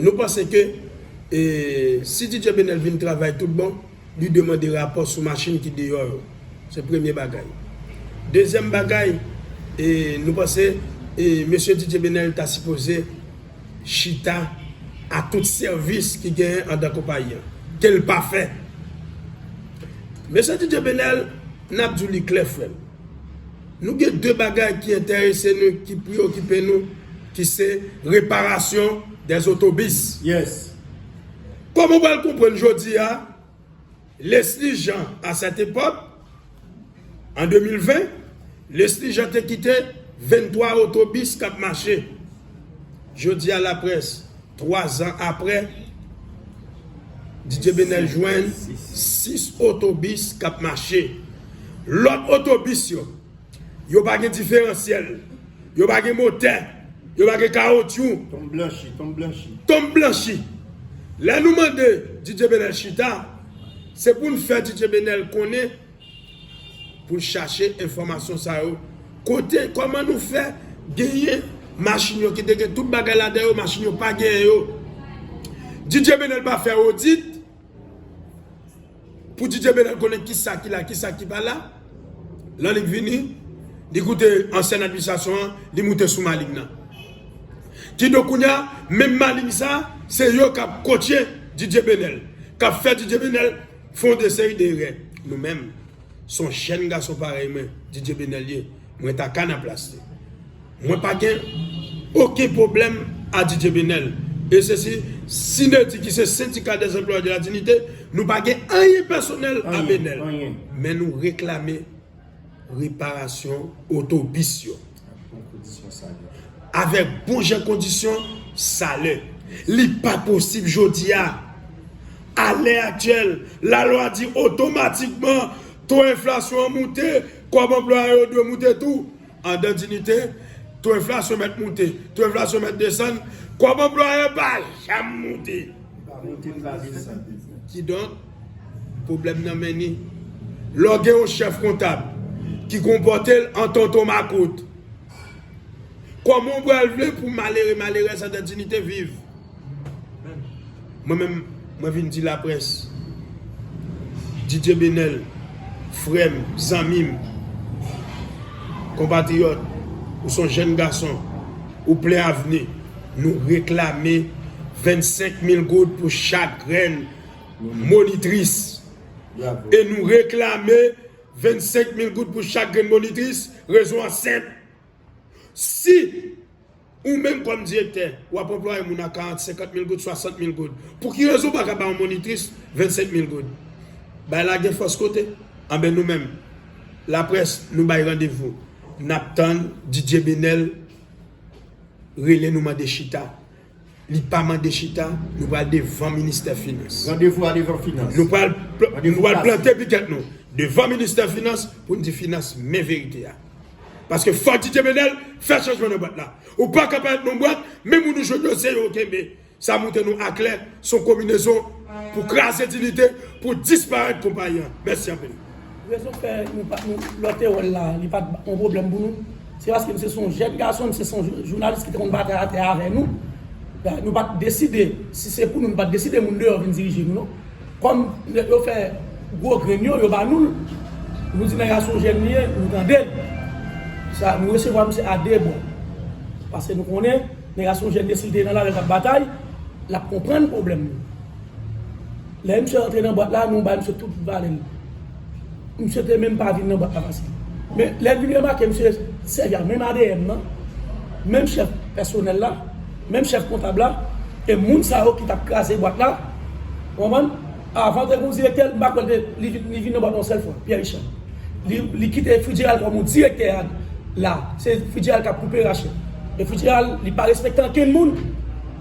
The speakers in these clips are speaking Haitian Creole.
Nou panse ke si DJ Benel vin travay tout bon, li dwe mande rapò sou machin ki deyò yo. Se premye bagay. Dezyèm bagay, nou panse mesye DJ Benel ta sipoze chita a tout sèvis ki genyen andan konpayi an. Ke l pa fè. Mesye DJ Benel, n ap di w li klè frè m. Nou gen 2 bagay ki entèrese nou ki preyokipe nou ki se reparasyon dè zotobis yes kòm ou pral konprann jodi a Lesly Jean a sèt epòk an 2020 Lesly Jean te kite 23 otobis kap mache Jodi a laprès, 3 zan aprè, Didier Benel jwenn 6 otobis k ap mache. Lòt otobis yo, yo pa gen diferansyèl, yo pa gen motè, yo pa gen kawotchou. Tonm blanchi, tonm blanchi. Tonm blanchi. Lè nou mande Didier Benel chita, se pou n fè Didier Benel konnen Pou l chache enfòmasyon sa yo. Kote, kòman nou fè genyen machin yo ki te gen tout bagay ladan yo, machin yo pa genyen yo. DJ Benel pa fè odit pou DJ Benel konnen ki sa ki la, ki sa ki pa la. Lan li vini, li koute ansyen administrasyon an, li moute sou maling nan. Ki do kounya, menm maling sa, se yo k ap kotye DJ Benel. K ap fè DJ Benel. Fon de seri de erè nou menm son jèn gason parèy mwen Didier Benel ye mwen ta ka nan plas li mwen pa gen oken pwoblèm a Didier Benel e se si Synerdi ki se sendika dè anplwaye de la dinite nou pa gen anyen pèsonèl a Benel men nou reklame reparasyon otobis yo. Avèk bon jan kondisyon salè. Li pa posib jodi a. A lè aktyèl, lalwa di otomatikman to enflasyon an moute, kòb anplwaye yo dwe moute tou. Andan diyite, to enflasyon mèt moute, to enflasyon mèt desann, kòb anplwaye pa janm moute. Kidonk. Pwoblèm nan menni. Lè w gen yon chèf kontab ki konpòte l an tonton makout, kòman w pral vle pou malere malerèz an dan dinite viv? Mwen menm, mwen vin di laprès, Didye Benèl, frè m, zanmi m, konpatriyòt, ou son jèn gason, ou plen avni, nou reklame 25 mil goud pou chak grenn monitris e nou reklame 25 mil goud pou chak grenn monitris, rezon an senp, si ou menm kòm direktè w ap anplwaye moun a 40, 50 mil goud, 60 mil goud, pou ki rezon ou pa ka bay yon monitris 25 mil goud? Bagay la gen fòs kote, anben nou menm laprès nou bay randevou, n ap tann Didier Benel rele nou mande chita. Li pa mande chita, nou pral devan ministè finans. Randevou a devan finans. Nou pral plante pikèt nou devan ministè finans pou n di finans men verite a. Paske fò Didier Menel fè chanjman nan bwat la. Ou pa ka pa ret nan bwat, men moun ou jwenn yo se yo ou kenbe. Sa montre nou aklè son konbinezon pou kraze diyite, pou disparèt konpayi an. Mèsi anpil. Rezon fè nou pa nou lòte wè l la li pa t yon pwoblèm pou nou se paske misye se yon jèn gason misye se yon jounalis ki te konn batay atè avè nou nou pa t deside si se pou nou nou pa t deside moun deyò vin dirije nou non kòm nèg yo fè gwo grenn yo yo ba nou l nou di nèg a se yon jèn li ye nou tande l sa nou resevwa misye a de bra paske nou konnen nèg a se yon jèn mesye si l te nan lari l t ap batay l ap konprann pwoblèm nou. Lè misye antre nan bwat la, nou bay misye tout valè l. Misye te menm pa vin nan bwat la paske. Men, lè l vin remake misye sèvi ak menm adm nan, menm chèf pèsonèl la, menm chèf kontab la, e moun sa yo ki t ap kraze bwat la, ou konprann, avan te gen yon direktè, m pa kwè l te, li vin, li vin nan bwat la yon sèl fwa, Pyè Richard. Li, li kite Fridjeral kòm yon direktè a la, se Fridjeral k ap koupe rache. E Fridjeral, li pa respekte ankenn moun.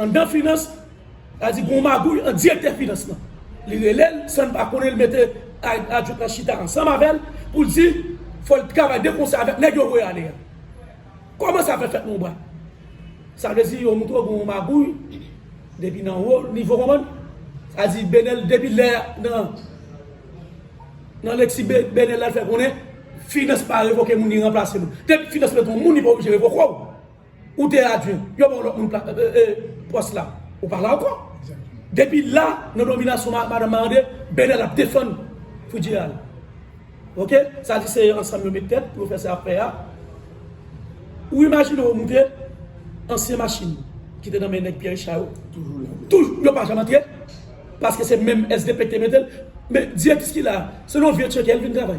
Anndan finans, sa di gon magouy ant direktè finans lan. Li rele l san l pa konnen l mete ak adjwent lan chita ansanm avè l pou l di fò l travay de konsè avèk nèg yo voye ale a. Kòman sa fè fèt monbra? Sa vle di yo montre w gon magouy depi nan wo nivo konprann? Sa di Benel depi lè a nan nan lekti Benel la l fè konnen finans pa revoke moun li ranplase moun. Depi finans mete yon moun li pa oblije revoke w. Ou te adjwen, yo ba w lòt moun pòs la, ou pa la ankò. Depi la, nan dominasyon Madan Marde, Benèl ap defann Fidjeyal. Ok, sa di se ansanm yo met tèt pou yo fè sa fè a. Ou imajine ou moute, ansyen machin ki te nan men nèg Pyè Richa yo, toujou, yo pa janm antre, paske se menm SDP ki te mete l. Men, direktris ki la a, se nan yon vye tcheke l vin travay.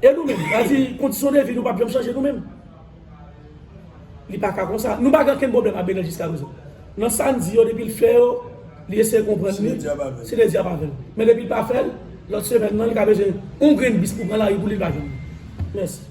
E nou menm? Sa di kondisyon de vi nou pap janm chanje nou menm? Li pa ka konsa. Nou pa gen okenn pwoblèm ak Benel jiska prezan. Nan sa n di yo depi l fè yo, li eseye konprann nou, si le dyab avè l. Men depi l pa fè l, lòt semèn nan li ka bezwen yon grenn bis pou pran lari pou li, li pa jwenn li. Mèsi.